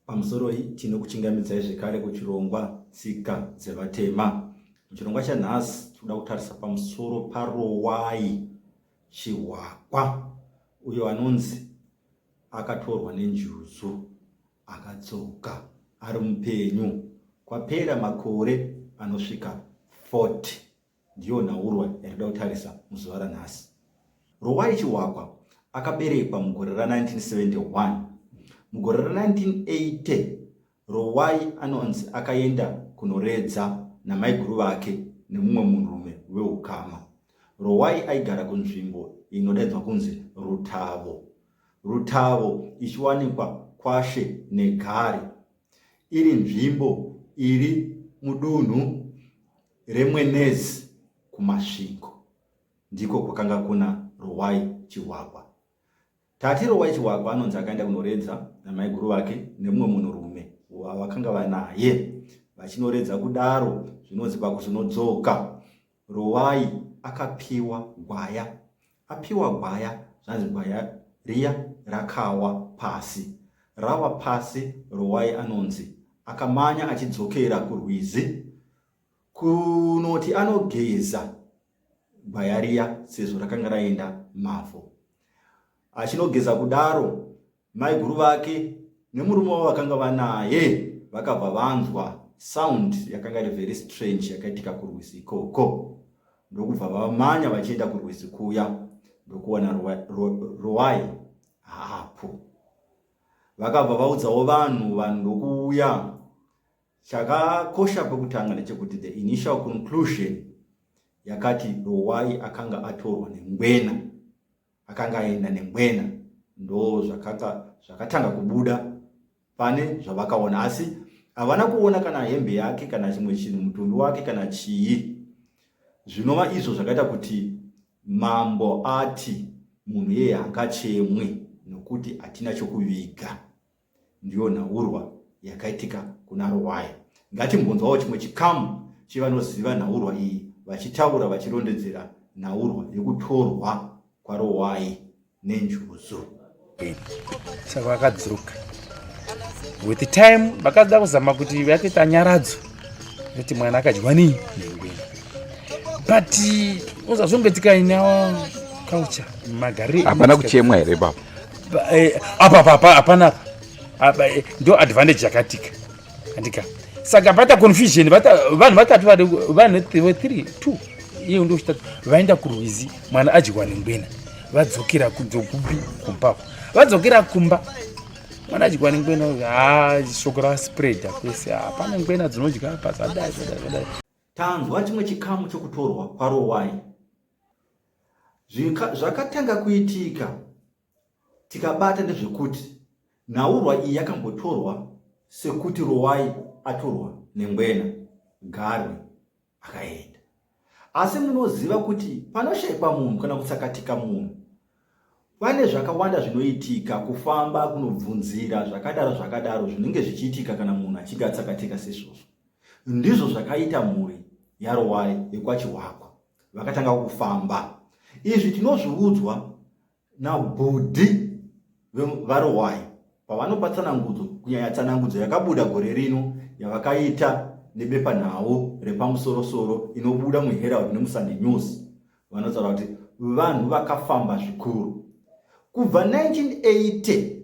Pamusoroi tinokuchingamidzai zvekare kuchirongwa Tsika dzeVatema. Muchirongwa chanhasi tinoda kutarisa pamusoro paRowai Chihwakwa uyo anonzi akatorwa nenjuzu akadzoka ari mupenyu kwapera makore anosvika 40. Ndiyo nhaurwa yatida kutarisa muzuva ranhasi. Rowai Chiwakwa akaberekwa mugore ra 1971. Mugore ra 1980 Rowai anonzi akaenda kunoredza namaiguru vake nemumwe munhurume weukama. Rowai aigara kunzvimbo inodaidzwa kunzi Rutavo. Rutavo ichiwanikwa kwashe negare iri nzvimbo iri mudunhu reMwenezi kuMasvingo ndiko kwakanga kuna Rowai Chihwakwa. Tati Rowai Chihwakwa anonzi akaenda kunoredza namaiguru vake nemumwe munhurume wavakanga vanaye vachinoredza kudaro zvinonzi pakuzonodzoka Rowai akapiwa gwaya Apiwa gwaya zvanzi gwaya riya rakawa pasi. Rawa pasi rowai anonzi akamanya achidzokera kurwizi kunoti anogeza gwaya riya sezvo rakanga raenda mavhu. Achinogeza kudaro Maiguru vake nemurume wavo vakanga vanaye vakabva vanzwa sound yakanga iri very strange yakaitika kurwizi ikoko ndokubva vamanya vachienda kurwizi kuya ndokuwana ruwai haapo vakabva vaudzawo vanhu vanhu ndokuuya chakakosha kwekutanga ndechekuti the initial conclusion yakati ruwai akanga atorwa nengwena akanga aenda nengwena ndo zvakaka zvakatanga kubuda pane zvavakaona asi havana kuona kana hembe yake kana chimwe chinhu mutumbi wake kana chii zvinova izvo zvakaita kuti mambo ati munhu yeye hangachemwe nokuti hatina chokuviga ndiyo nhaurwa yakaitika kuna Ruwaya. Ngatimbonzwawo chimwe chikamu chevanoziva nhaurwa iyi vachitaura vachirondedzera nhaurwa yekutorwa kwaRuwai nenjuzu. Saka vakadzoka with the time vakada kuzama kuti vatoita nyaradzo nekuti mwana akadyiwa nei nengweni but uzazongoitika inawo culture magarire hapana kuchemwa here baba Eh, apa papa hapana eh, ndo advantage yakatika andika saka pata confusion vanhu vatatu vanhu three two iye ndo chitatu vaenda kurwizi mwana adyiwa nengwena vadzokera kudzokupi kumbako vadzokera kumba mwana adyiwa nengwena ha shoko raspreada kwese hapana ngwena dzinodya apa zvadai zvadai zvadai tanzwa chimwe chikamu chokutorwa kwarowai Zvakatanga kuitika tikabata ndezvekuti nhaurwa iyi yakambotorwa sekuti Rowai atorwa nengwena Garwe akaenda. Asi munoziva kuti panoshaikwa munhu kana kutsakatika munhu pane zvakawanda zvinoitika kufamba kunobvunzira zvakadaro zvakadaro zvinenge zvichiitika kana munhu achinge atsakatika sezvozvo ndizvo zvakaita mhuri yarowai yekwachiwakwa vakatanga kufamba izvi tinozviudzwa nabhudhi varohwai pavanopa tsanangudzo kunyanya tsanangudzo yakabuda gore rino yavakaita nebepanhau repamusorosoro inobuda muherald nemusunday news vanotaura kuti vanhu vakafamba zvikuru kubva 1980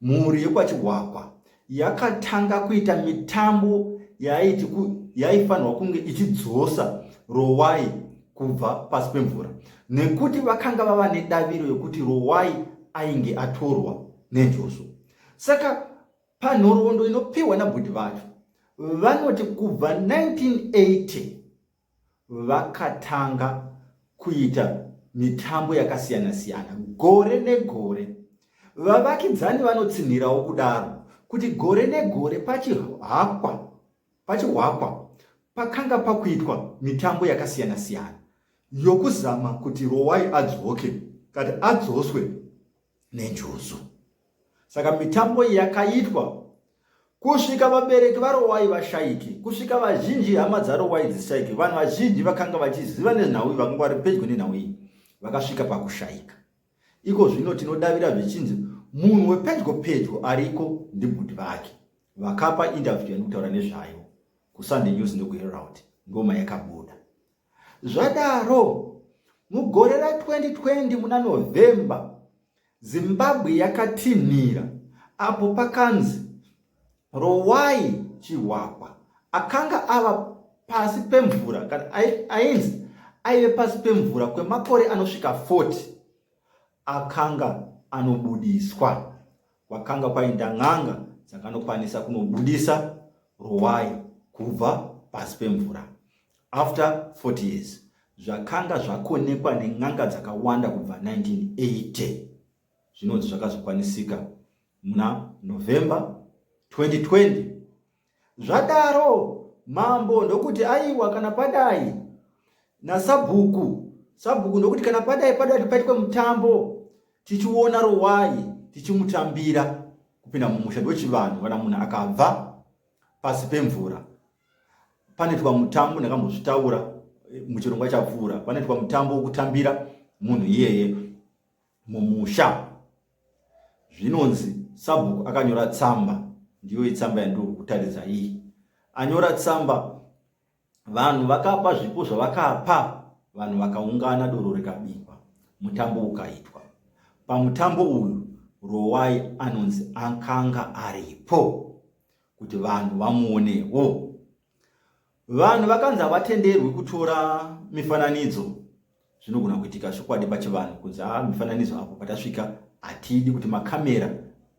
Mhuri yekwaChihwakwa yakatanga kuita mitambo yaiti yaifanirwa kunge ichidzosa Rowai kubva pasi pemvura nekuti vakanga vava nedaviro yokuti Rowai ainge atorwa nenjoso. Saka panhoroondo inopiwa nabhudhi vacho vanoti kubva 1980 vakatanga kuita mitambo yakasiyana siyana gore negore vavakidzani vanotsinhirawo kudaro kuti gore negore pachihakwa pachihwakwa pakanga pakuitwa mitambo yakasiyana siyana yokuzama kuti rowai adzoke kati adzoswe nenjuzu. Saka mitambo iyi yakaitwa kusvika vabereki vaRowai vashaike, kusvika vazhinji hama dzaRowai dzishaike. Vanhu vazhinji vakanga vachiziva nenhau iyi, vakanga vari pedyo nenhau iyi, vakasvika pakushaika. Iko zvino tinodavira zvichinzi munhu wepedyo pedyo ariko ndibhudhi vake vakapa interview yanokutaura nezvayo kusunday news ndokuherald ndoma yakabuda Zvadaro, mugore ra 2020 muna November, Zimbabwe yakatinhira apo pakanzi Rowai Chihwahwa akanga ava pasi pemvura kana ainzi aive pasi pemvura kwemakore anosvika 40 akanga anobudiswa kwakanga kwaenda n'anga dzakanokwanisa kunobudisa ruwai kubva pasi pemvura after 40 years zvakanga zvakonekwa nen'anga dzakawanda kubva 1980 zvinonzi zvakazokwanisika muna november 2020 zvadaro mambo ndokuti aiwa kana padai nasabhuku sabhuku ndokuti kana padai padati paitwe mutambo tichiona rowai tichimutambira kupinda mumusha ndochivanhu kana munhu akabva pasi pemvura panoitwa mutambo ndakambozvitaura eh, muchirongwa chapfuura panoitwa mutambo wokutambira munhu iyeye mumusha zvinonzi sabhuku akanyora tsamba ndiyo itsamba yandiri kutaridza iyi anyora tsamba vanhu vakapa zvipo zvavakapa vanhu vakaungana doro rikabikwa mutambo ukaitwa pamutambo uyu rowai anonzi akanga aripo kuti vanhu vamuonewo Vanhu vakanzi havatenderwi kutora mifananidzo zvinogona kuitika chokwadi pachivanhu kunzi haa mifananidzo apo patasvika hatidi kuti makamera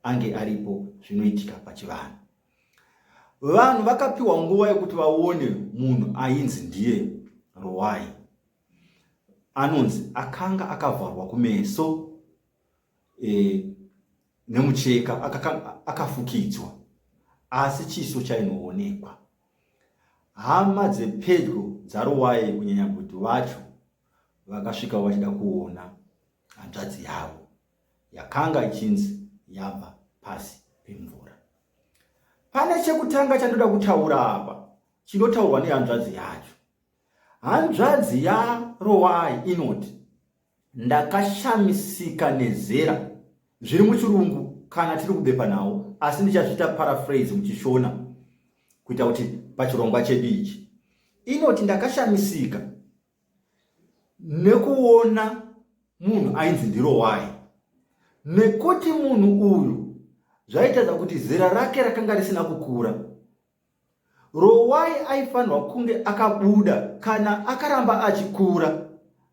ange aripo zvinoitika pachivanhu vanhu vakapiwa nguva yekuti vaone munhu ainzi ndiye rowai anonzi akanga akavharwa kumeso e, nemucheka akafukidzwa asi chiso chainoonekwa. Hama dzepedyo dzaRuwaye kunyanya kuti vacho vakasvikawo vachida kuona hanzvadzi yavo yakanga ichinzi yabva pasi pemvura. Pane chekutanga chandoda kutaura apa chinotaurwa nehanzvadzi yacho. Hanzvadzi yaRowai inoti Ndakashamisika nezera zviri muchirungu kana tiri kubepa nhau asi ndichazviita paraphrase muchishona kuita kuti pachirongwa chedu ichi inoti ndakashamisika nekuona munhu ainzi ndirowai nekuti munhu uyu zvaitaza kuti zera rake rakanga risina kukura Rowai aifanirwa kunge akabuda kana akaramba achikura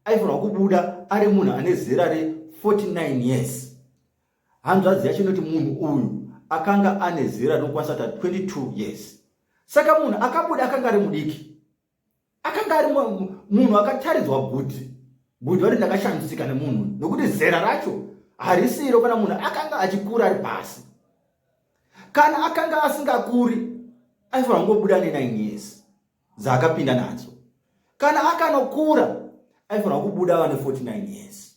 aifanirwa kubuda ari munhu ane zera re49 years hanzvadzi yacho inoti munhu uyu akanga ane zera rinokwanisa ta 22 years saka munhu akabuda akanga ari mudiki akanga ari munhu akataridzwa guti guti vari ndakashamisika nemunhu nokuti zera racho harisiro kana munhu akanga achikura ari pasi kana akanga asingakuri aifanira kungobuda nenine years dzaakapinda nadzo kana akanokura aifanira kubuda ava ne 49 years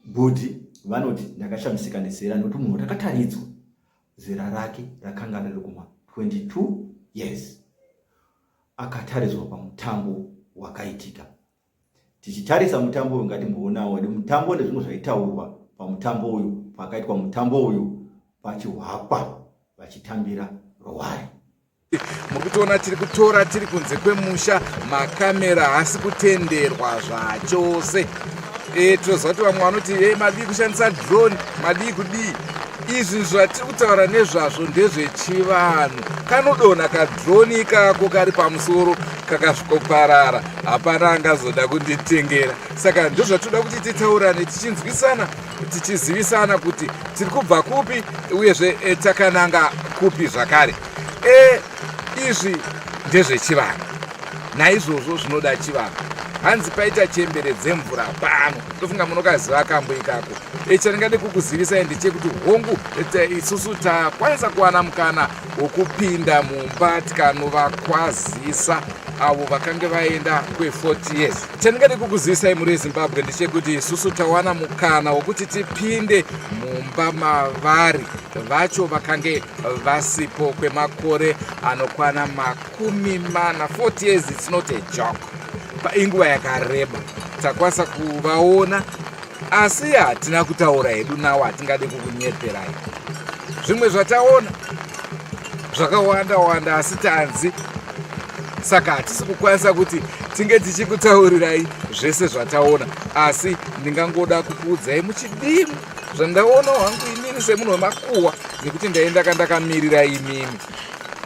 Bhudhi vanoti ndakashamisika nezera nokuti munhu watakataridzwa zera rake rakanga riri kuma 22 years akataridzwa pamutambo wakaitika tichitarisa mutambo uyu ngatimboonawo kuti mutambo nezvimwe zvaitaurwa pamutambo uyu pakaitwa mutambo uyu pachihwakwa vachitambira rowari murikutoona tiri kutora tiri kunze kwemusha makamera haasi kutenderwa zvachose e, tinoziva kuti vamwe vanoti e, madii kushandisa drone madii kudii izvi zvatiri kutaura nezvazvo ndezvechivanhu kanodonha kadroni ikako kari pamusoro kakasvikoparara hapana angazoda kunditengera saka ndozvatinoda kuti titaurane tichinzwisana tichizivisana kuti tiri kubva kupi uyezve e, takananga kupi zvakare e, izvi ndezvechivanhu naizvozvo zvinoda chivanhu hanzi paita chembere dzemvura pano ndofunga munokaziva kambo ikako e, chandingade kukuzivisai ndechekuti hongu isusu takwanisa kuwana mukana wokupinda mumba tikanovakwazisa avo vakange vaenda kwe40 years Chandingade kukuzivisai mhuri yezimbabwe ndechekuti isusu tawana mukana wokuti tipinde mumba mavari vacho vakange vasipo kwemakore anokwana makumi mana 40 years its not a jok painguva yakareba takwanisa kuvaona asi hatina kutaura hedu nawo hatingade kukunyeperai zvimwe zvataona zvakawanda wanda asi tanzi saka hatisi kukwanisa kuti tinge tichikutaurirai zvese zvataona asi ndingangoda kukuudzai muchidimbu zvandaona wangu imini semunhu wemakuwa nekuti ndaenda kandakamirira imimi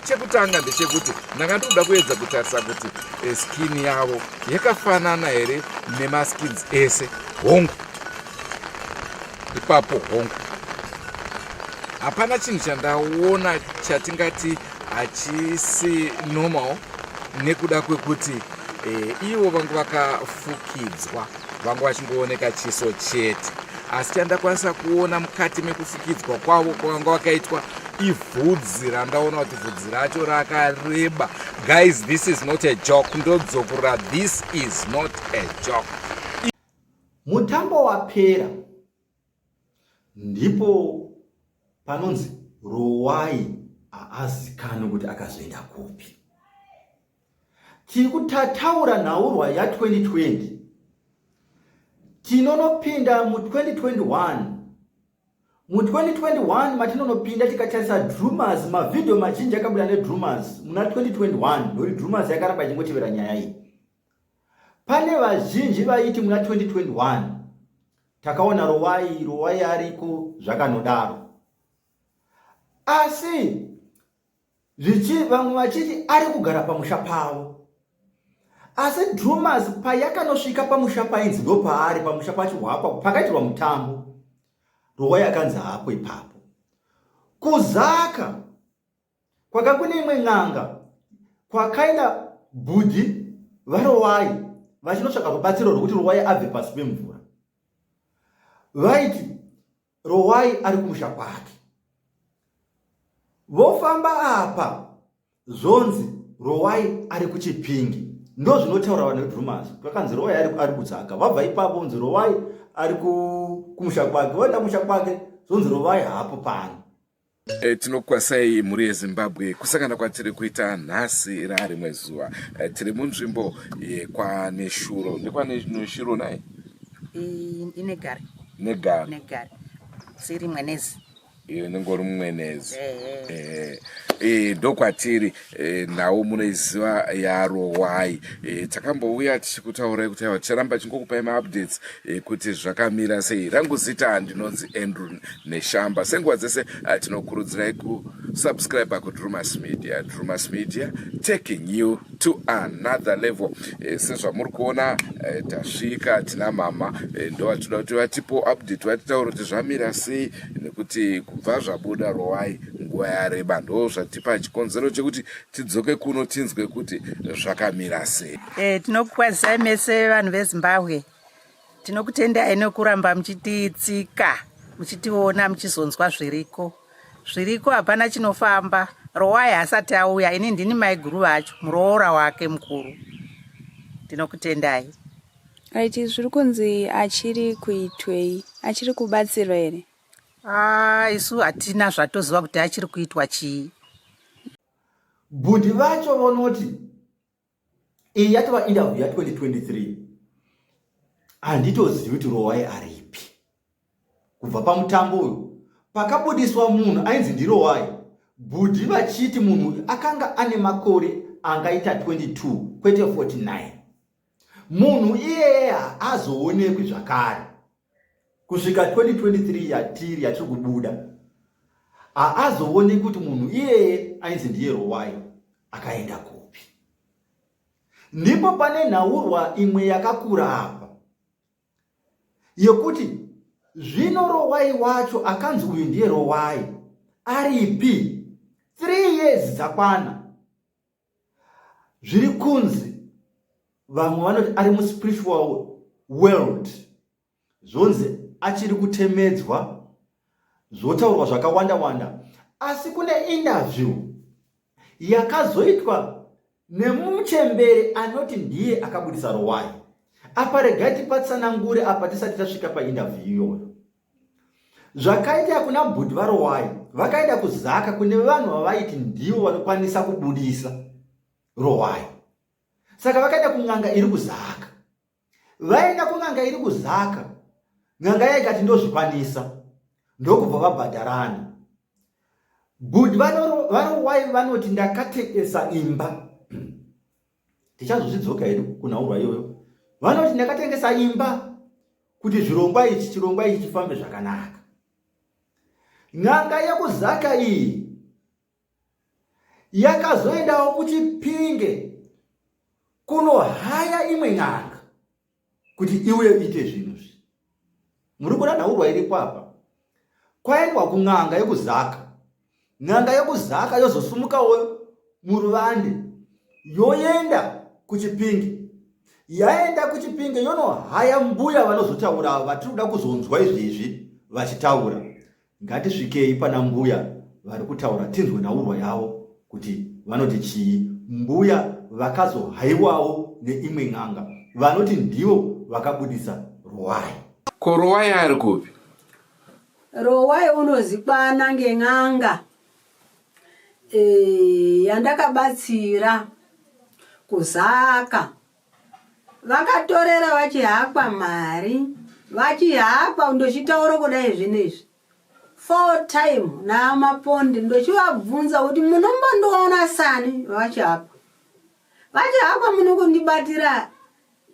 chekutanga ndechekuti ndanga ndikuda kuedza kutarisa kuti eh, skini yavo yakafanana here nemaskins ese hongu ipapo hongu hapana chinhu chandaona chatingati hachisi normal nekuda kwekuti e, ivo vangu vakafukidzwa vangu vachingooneka chiso chete asi chandakwanisa kuona mukati mekufukidzwa kwavo kwavanga vakaitwa ivhudzi randaona kuti vhudzi racho rakareba guys this is not a joke ndodzokura this is not a joke mutambo wapera Ndipo panonzi rowai haazikanwi kuti akazoenda kupi. Tiri kutataura nhaurwa ya 2020 tinonopinda mu 2021 mu 2021 matinonopinda tikatarisa drumers mavhidhiyo mazhinji akabuda nedrumers muna 2021 ndokuti drumers yakaramba ichingotivera nyaya iyi pane vazhinji vaiti muna 2021 takaona rovai rovai ariko zvakanodaro asi zvichi vamwe vachiti ari kugara pamusha pavo asi drewmas payakanosvika pamusha painzi ndo paari pamusha pachihwapa pakaitirwa mutambo rovai akanzi haapo ipapo kuzaka Kwaka kune imwe n'anga kwakaenda bhudhi vaRowai vachinotsvaga rubatsiro rwekuti Rowai abve pasi pemvura. Vaiti Rowai ari kumusha kwake. Vofamba apa zvonzi Rowai ari kuChipinge. Ndo zvinotaura vane drumers. Kwakanzi Rowai ari kudzaka. Vabva ipapo vonzi Rowai ari kumusha kwake. Voenda kumusha kwake zvonzi Rowai haapo pano. E, tinokwasai mhuri yezimbabwe kusangana kwatiri kuita nhasi rarimwe zuva e, tiri munzvimbo yekwaneshuro ndekwaneshuro naye inegare negare negare siri mwenezi iyo inenge uri mumwenezi ndokwatiri Eh, nhau munoiziva yarowai eh, takambouya tichikutaurai kuti aiwa ticharamba chingokupai maupdates eh, kuti zvakamira sei rangu zita ndinonzi andrew neshamba senguva dzese tinokurudzirai kusubscribe kudrumas media drumas media taking you to another level sezvamuri kuona tasvika tina mama ndovatoda kuti vatipo update vatitaura kuti zvamira sei nekuti kubva zvabuda rowai nguva yareba ndo zvatipa chikonzero chekuti tidzoke kuno tinzwe kuti zvakamira sei e, tinokukwazisai mese vanhu vezimbabwe tinokutendai nekuramba muchititsika muchitiona muchizonzwa zviriko zviriko hapana chinofamba rowai hasati auya ini ndini maiguru vacho muroora wake mukuru ndinokutendai Right, zviri kunzi achiri kuitwei? Achiri kubatsirwa here? Ah, isu hatina zvatoziva kuti achiri kuitwa chii. Bhudhi vacho vonoti iyi yatova interview ya 2023 handitozivi kuti Rowai aripi. Kubva pamutambo uyu pakabudiswa munhu ainzi ndiRowai, bhudhi vachiti munhu akanga ane makore angaita 22 kwete 49. munhu iyeye haazoonekwi zvakare kusvika 2023 yatiri yatiri kubuda haazoonekwi kuti munhu iyeye ainzi ndiye rowai akaenda kupi ndipo pane nhaurwa imwe yakakura apa yekuti zvino rowai wacho akanzi uyu ndiye rowai aripi 3 years dzakwana zviri kunzi vamwe vanoti ari muspiritual world zvonzi achiri kutemedzwa zvotaurwa zvakawanda wanda asi kune interview yakazoitwa nemuchembere anoti ndiye akabudisa rowai apa regai tipatsanangure apa tisati tasvika painterview iyoyo zvakaita kuna bhudhi varowayi vakaenda kuzaka kune vanhu vavaiti ndivo vanokwanisa kubudisa rowayi saka vakaenda kun'anga iri kuzaka vaenda kun'anga iri kuzaka n'anga yaikati ndozvikwanisa ndokubva vabhadharana bhudhi varowayi vanoti ndakatekesa imba tichazozvidzoka hedu kunhaurwa iyoyo vanoti ndakatengesa imba kuti zvirongwa ichi chirongwa ichi chifambe zvakanaka n'anga yekuzaka iyi yakazoendawo kuchipinge kunohaya imwe n'anga kuti iuye uite zvinhu zvi muri kuona nhaurwa iripo apa kwaendwa kun'anga yekuzaka n'anga yekuzaka yozosumukawo muruvande yoenda kuchipinge yaenda kuchipinge yonohaya mbuya vanozotaura vatiri kuda kuzonzwa izvezvi vachitaura Ngatisvikei pana mbuya vari kutaura tinzwe nhaurwa yavo kuti vanoti chii. Mbuya vakazohaiwawo neimwe n'anga vanoti ndivo vakabudisa Rowai. Ko Rowai ari kupi? Rowai unozikwana ngen'anga e, yandakabatsira kuzaka vakatorera vachihakwa mari vachihakwa ndochitaura kudai zvinezvi four time naamapondi ndochivabvunza kuti munombondiona sani vachihakwa vachihakwa munokundibatira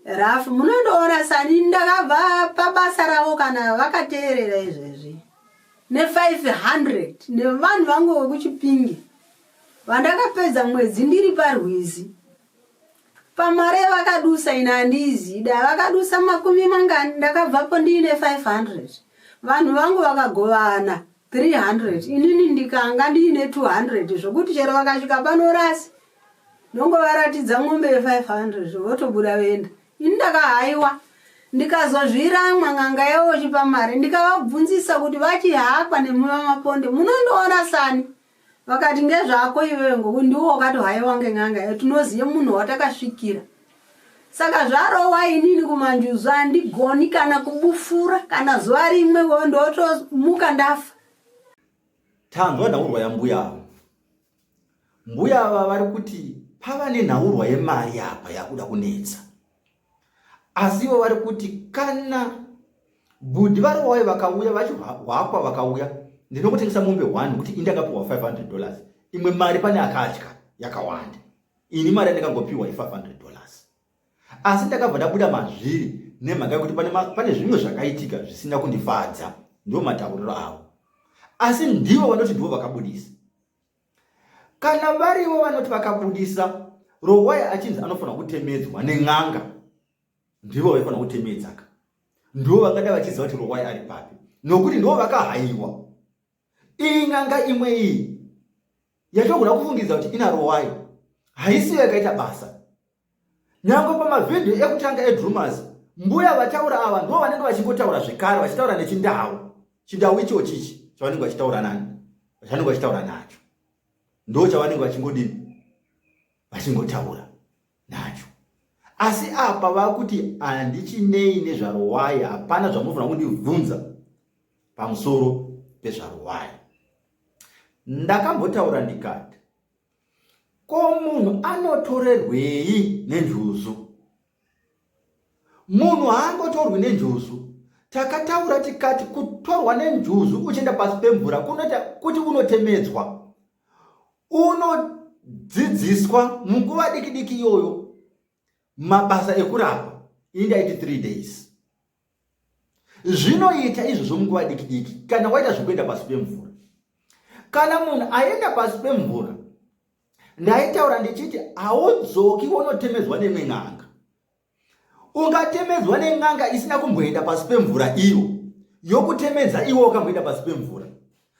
rafu munondiona sani ndakabva pabasa ravo kana vakateerera izvezvi ne500 nevanhu vangu vekuchipingi vandakapedza mwedzi ndiri parwizi pamari yavakadusa ina handiizida vakadusa makumi mangani ndakabvapo ndiine 500 vanhu vangu vakagovana 300 inini ndikanga ndiine 200 zvokuti chero vakasvika panorasi ndongovaratidza mombe ye500 votobuda venda ini ndakahaiwa ndikazozviramwa n'anga yavo chipa mari ndikavabvunzisa kuti vachihakwa nemumamaponde munondoona sani vakati ngezvako iwewe ngoku ndiwo wakatohaiwa ngen'anga iyo tinoziva munhu watakasvikira saka zvarowa inini kumanjuzu handigoni kana kubufura kana zuva rimwe wo ndotomuka ndafa tanzwa nhaurwa yambuya ava mbuya ava vari kuti pava nenhaurwa yemari apa yakuda kunetsa asi ivo vari kuti kana bhudhi varowayo vakauya vachihwakwa vakauya ndinokutengesa mombe one kuti indakapiwa 500 dollars imwe mari pane akatya yakawanda ini mari yandakangopiwa i 500 dollars asi ndakabva ndabuda mazviri nemhaka yekuti pane zvimwe zvakaitika zvisina kundifadza ndo matauriro avo asi ndivo vanoti ndivo vakabudisa kana varivo vanoti vakabudisa rowaya achinzi anofanira kutemedzwa nen'anga ndivo vaifanira kutemedzaka ndivo vangada vachiziva kuti rowaya ari papi nokuti ndivo vakahaiwa iyi n'anga imwe iyi yatogona kufungidza kuti ina rowaya haisiyo yakaita basa Nyangwe pamavhidhiyo ekutanga edrewmas mbuya vataura ava ndivo vanenge vachingotaura zvekare vachitaura nechindau chindau icho chichi chavanenge vachitaura nani chavanenge vachitaura nacho ndo chavanenge vachingodini vachingotaura nacho asi apa vakuti handichinei nezvarowai hapana zvamunofanira kundibvunza pamusoro pezvarowai ndakambotaura ndikati Ko munhu anotorerwei nenjuzu? Munhu haangotorwi nenjuzu. Takataura tikati kutorwa nenjuzu uchienda pasi pemvura kunoita kuti unotemedzwa. Unodzidziswa munguva dikidiki iyoyo mabasa ekurapa ini ndaiti three days zvinoita izvozvo munguva diki diki kana waita zvekuenda pasi pemvura kana munhu aenda pasi pemvura ndaitaura ndichiti haudzoki wonotemedzwa nemwe n'anga ungatemedzwa nen'anga isina kumboenda pasi pemvura iyo yokutemedza iwe wakamboenda pasi pemvura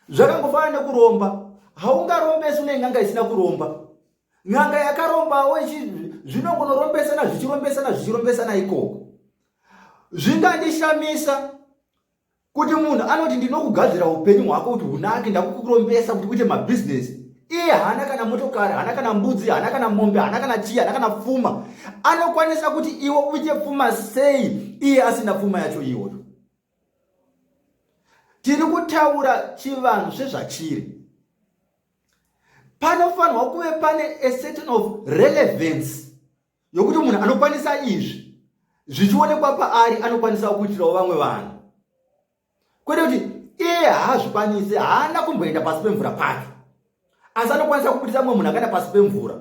zvakangofanana nekuromba haungarombesu nen'anga isina kuromba n'anga yakarombawo zvinongonorombesana zvichirombesana zvichirombesana ikoko zvingandishamisa kuti munhu anoti ndinokugadzira upenyu hwako kuti hunake ndakukurombesa kuti uite mabhizinesi iye haana kana motokari haana kana mbudzi haana kana mombe haana kana chii haana kana pfuma anokwanisa kuti iwe uite pfuma sei iye asina pfuma yacho iyoyo tiri kutaura chivanhu sezvachiri panofanirwa kuve pane a certain of relevance yokuti munhu anokwanisa izvi zvichionekwa paari anokwanisa kuitirawo vamwe vanhu kwete kuti iye haazvikwanisi haana kumboenda pasi pemvura pake asi anokwanisa kubudisa mumwe munhu akaenda pasi pemvura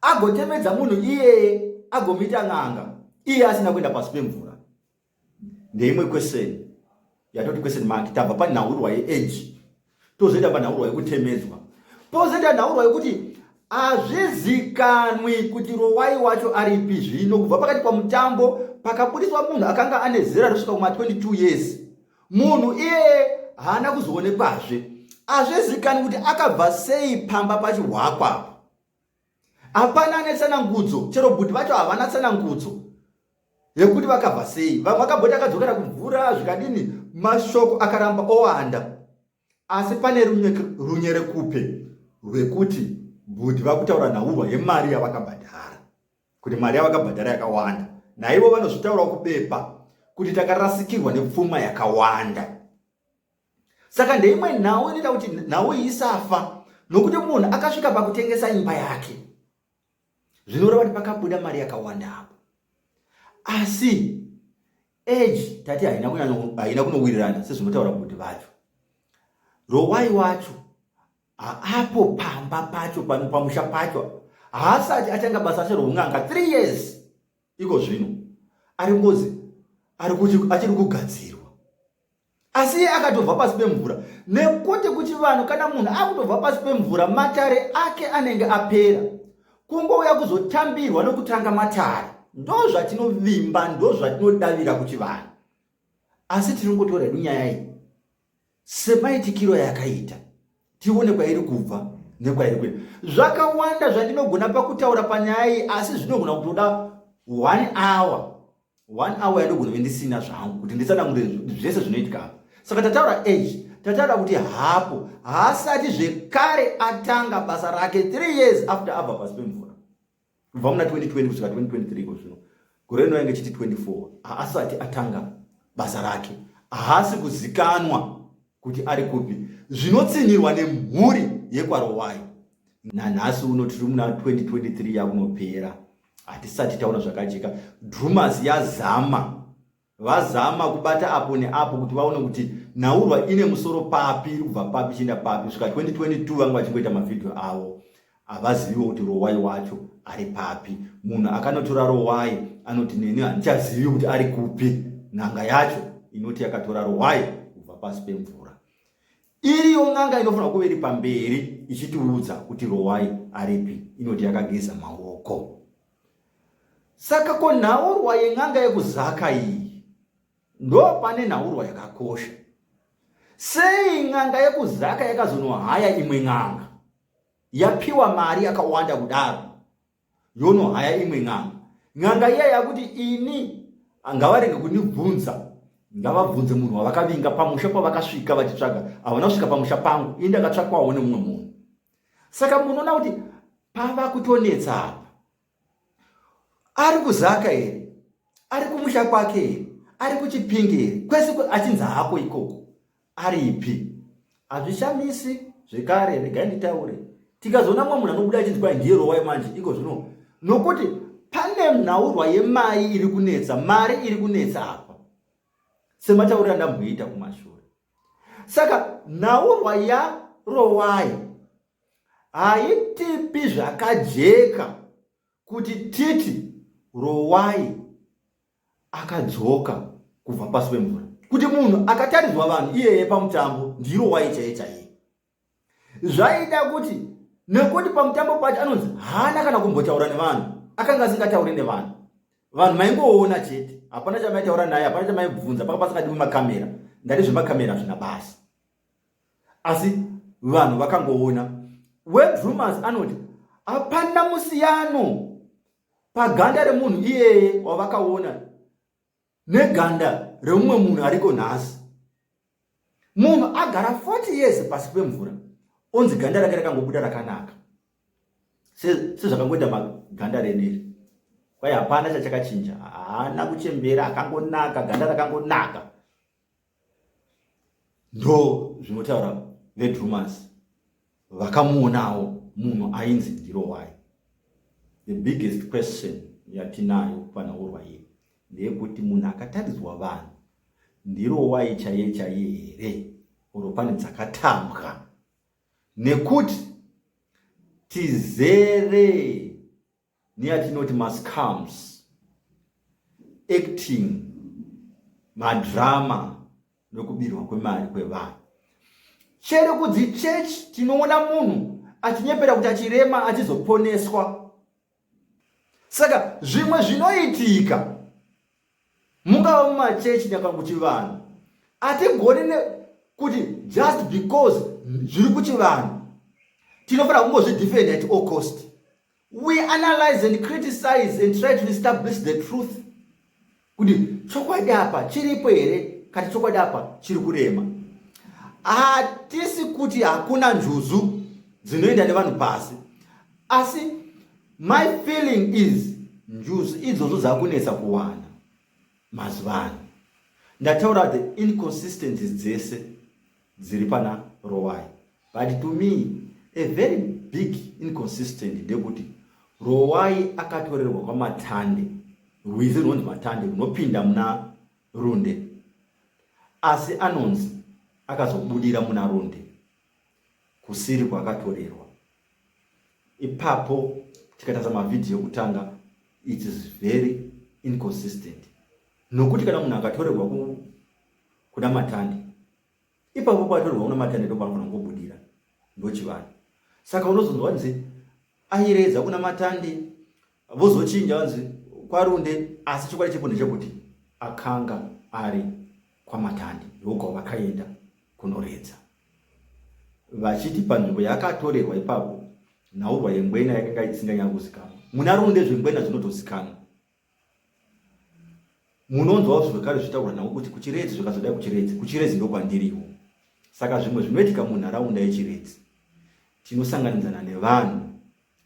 agotemedza munhu iyeye agomuita n'anga iye asina kuenda pasi pemvura ndeimwe kweseni yatoti kweseni maki tabva panhaurwa yeeji tozoita panhaurwa yekutemedzwa pozoita nhaurwa yekuti hazvizikanwi kuti rowai wacho aripi zvino kubva pakati pamutambo pakabudiswa munhu akanga ane zera rinosvika kuma 22 years munhu iyeye haana kuzoonekwazve hazvizikanwi kuti akabva sei pamba pachihwakwa hapana ane tsanangudzo chero bhudhi vacho havana tsanangudzo yekuti vakabva sei vamwe vakabhoti akadzokera kumvura zvikadini mashoko akaramba owanda asi pane runyere kupe rwekuti bhudhi vakutaura nhaurwa yemari yavakabhadhara kuti mari yavakabhadhara yakawanda naivo vanozvitaurawo kubepa kuti takarasikirwa nepfuma yakawanda saka ndeimwe nhau inoita kuti nhau iyi isafa nokuti munhu akasvika pakutengesa imba yake zvinoreva kuti pakabuda mari yakawanda apo asi age tati haina kunowirirana sezvinotaura kuti vacho rowai wacho haapo pamba pacho pamusha pacho haasati atanga basa racho roun'anga three years iko zvino ari ngozi achiri kugadzirwa asi iye akatobva pasi pemvura nekuti kuchivanhu kana munhu akutobva pasi pemvura matare ake anenge apera kungouya kuzotambirwa nokutanga matare ndo zvatinovimba ndo zvatinodavira kuchivanhu asi tiringotora hedu nyaya iyi semaitikiro yakaita tione kwairi kubva nekwairi kuenda zvakawanda zvandinogona pakutaura panyaya iyi asi zvinogona kutoda one hour one hour yandogona kuve ndisina zvangu kuti nditsanangure zvese zvinoitika apa saka tataura age tataura kuti hapo haasati zvekare atanga basa rake three years after abva pasi pemvura kubva muna 2020 kusvika 2023 iko zvino gore rino yange chiti 24 haasati atanga basa rake haasi kuzikanwa kuti ari kupi zvinotsinhirwa nemhuri yekwarowai nanhasi uno tiri muna 2023 yakunopera hatisati taona zvakajeka drumas yazama vazama kubata apo neapo kuti vaone kuti nhaurwa ine musoro papi iri kubva papi ichienda papi kusvika 2022 vanga vachingoita mavhidhiyo avo havaziviwo kuti rowai wacho ari papi munhu akanotora rowai anoti neni handichazivi kuti ari kupi n'anga yacho inoti yakatora rowai kubva pasi pemvura iriyo n'anga inofanira kuve iri pamberi ichitiudza kuti rowai aripi inoti yakageza maoko Saka ko nhaurwa yen'anga yekuzaka iyi ndo pane nhaurwa yakakosha sei n'anga yekuzaka yakazonohaya imwe n'anga yapiwa mari yakawanda kudaro yonohaya imwe n'anga n'anga iya yakuti ini ngavarenge kundibvunza ngavabvunze munhu wavakavinga pamusha pavakasvika vachitsvaga havana kusvika pamusha pangu ini ndakatsvakwawo nemumwe munhu saka munoona kuti pava kutonetsa apa ari kuzaka here ari kumusha kwake here ari kuchipingi here kwese achinzi hako ikoko aripi hazvishamisi zvekare regai nditaure tikazoona mumwe munhu anobuda achinzi kwai ndiye rowai manje iko zvino nokuti pane nhaurwa yemai iri kunetsa mari iri kunetsa apa sematauriro andamboita kumashure saka nhaurwa yarowai haitipi zvakajeka kuti titi rowai akadzoka kubva pasi pemvura kuti munhu akatarizwa vanhu iyeye pamutambo ndirowai chaiye chaiye zvaida kuti nekuti pamutambo pacho anonzi haana kana kumbotaura nevanhu akanga asingatauri nevanhu vanhu maingoona chete hapana chamaitaura naye hapana chamaibvunza paka pasingadiwi makamera ndati zvemakamera zvina basa asi vanhu vakangoona wedrumas anoti hapana musiyano paganda remunhu iyeye wavakaona neganda reumwe munhu ariko nhasi munhu agara 40 years pasi pemvura onzi ganda rake rakangobuda rakanaka sezvakangoita maganda reniri kwai hapana chachakachinja haana kuchembera akangonaka ganda rakangonaka ndo zvinotaura vedrumas vakamuonawo munhu ainzi ndirowai the biggest question yatinayo panaurwa iye ndeyekuti munhu akataridzwa vanhu ndirowai chaiye chaiye here oro pane dzakatambwa nekuti tizere neyatinoti mascams acting madrama nokubirwa kwemari kwevanhu chero kudzi church tinoona munhu achinyepera kuti achirema achizoponeswa saka zvimwe zvinoitika mungava mumachechi nyakanguti vanhu hatigoni ne kuti just because zviri kuchivanhu tinofanira kungozvidefenda at all cost we analyze and criticize and try to establish the truth kuti chokwadi apa chiripo here kati chokwadi apa chiri kurema hatisi kuti hakuna njuzu dzinoenda nevanhu pasi asi my feeling is njuzu idzodzo dzakunetsa kuwana mazuva ano ndataura the inconsistencies dzese dziri pana Rowai but to me a very big inconsistent ndekuti Rowai akatorerwa kwaMatande rwizi runonzi Matande runopinda muna Runde asi anonzi akazobudira muna Runde kusiri kwakatorerwa ipapo tikatarisa mavhidhiyo ekutanga it is very inconsistent nokuti kana munhu akatorerwa kuda matande ipapo patorwa una matande ndopanofanira kungobudira ndochivanhu saka unozonzwa vanzi airedza kuna matande vozochinja vanzi kwarunde asi chokwadi chepo ndechekuti akanga ari kwamatande ndokwa vakaenda kunoredza vachiti panzvimbo yakatorerwa ipapo nhaurwa yengwena yakanga isinganyanyozikanwa muna runde zvengwena zvinotozikanwa munonzwawo zvekare zvitaurwa navo kuti kuchiredzi zvakazodai kuchiredzi kuchiredzi ndokwandiriwo saka zvimwe zvinoitika munharaunda yechiredzi tinosanganidzana nevanhu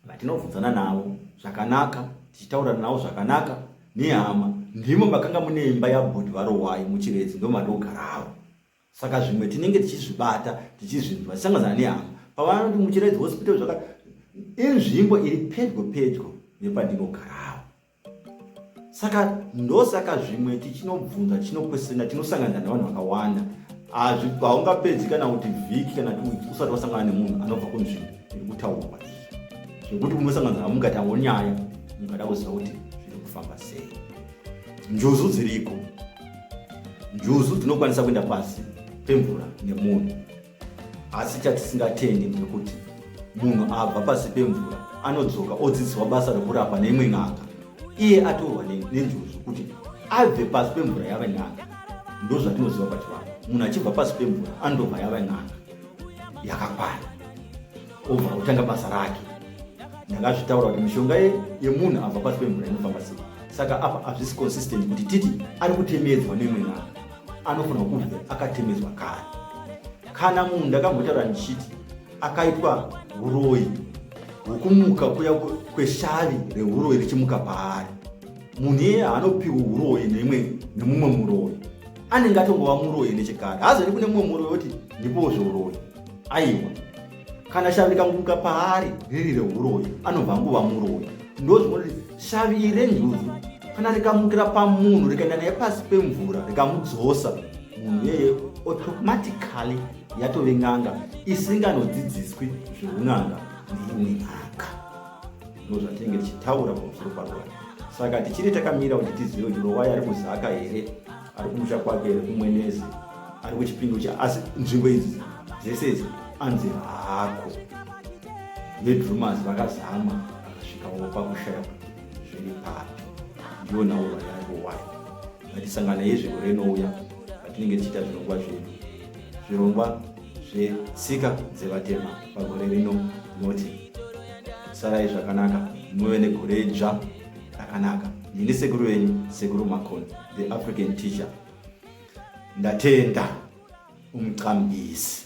vatinobvunzana navo zvakanaka tichitaurana navo zvakanaka nehama ndimo makanga mune imba yabhudhi varowayi muchiredzi ndomadogarawo saka zvimwe tinenge tichizvibata tichizvinzwa tisangazana nehama pavanoti muchiraidzi hospital zvaka inzvimbo iri pedyo pedyo nepandinogarawo saka ndosaka zvimwe tichinobvunza tichinokwesena tinosangana nevanhu vakawanda haungapedzi kana kuti vhiki kana tiwiki usati wasangana nemunhu anobva kunzvimbo iri kutaurwa zvekuti unosangana nawo mukatawo nyaya mukada kuziva kuti zviri kufamba sei Njuzu dziriko. Njuzu dzinokwanisa kuenda pasi pemvura nemunhu. Asi chatisingatendi ndekuti munhu abva pasi pemvura anodzoka odzidziswa basa rekurapa neimwe n'anga iye atorwa nenjuzu kuti abve pasi pemvura yave n'anga ndozvatinoziva pachivanhu munhu achibva pasi pemvura anodobva yave n'anga yakakwana obva kutanga basa rake ndanga azvitaura kuti mishonga yemunhu abva pasi pemvura inofamba sei saka apa hazvisi consistent kuti titi ari kutemedzwa neimwe nhaa anofanirwa kunge akatemedzwa kare kana munhu ndakambotaura ndichiti akaitwa uroyi hwokumuka kuya kweshavi reuroyi richimuka paari munhu iye haanopiwa uroyi neimwe nemumwe muroyi anenge atongova muroyi nechekare haazori kune mumwe muroyi woti ndipowo zveuroyi aiwa kana shavi rikanguruka paari riri rehuroyi anobva anguva muroyi ndozvinoti shavi iri renjuzu kana rikamukira pamunhu rikaenda naye pasi pemvura rikamudzosa munhu iyeye automatically yatove n'anga isinganodzidziswi zveun'anga neimwe n'anga ndozvatinenge tichitaura pamusoro parwai saka tichiri takamira kuti tizive kuti rovai ari kuzaka here ari kumusha kwake here kumwenezi ari kuchipindu cha asi nzvimbo idzi dzese idzi anzi hako vedrumers vakazama vakasvikawo pakushaya zviri papi ndiyo nhauro yaivo wai ngatisangana yezviro renouya patinenge tichiita zvirongwa zvedu zvirongwa zvetsika dzevatema pagore rino noti sarai zvakanaka muve negore dzva rakanaka ndini sekuru venyu sekuru makoni the african teacher ndatenda umqambisi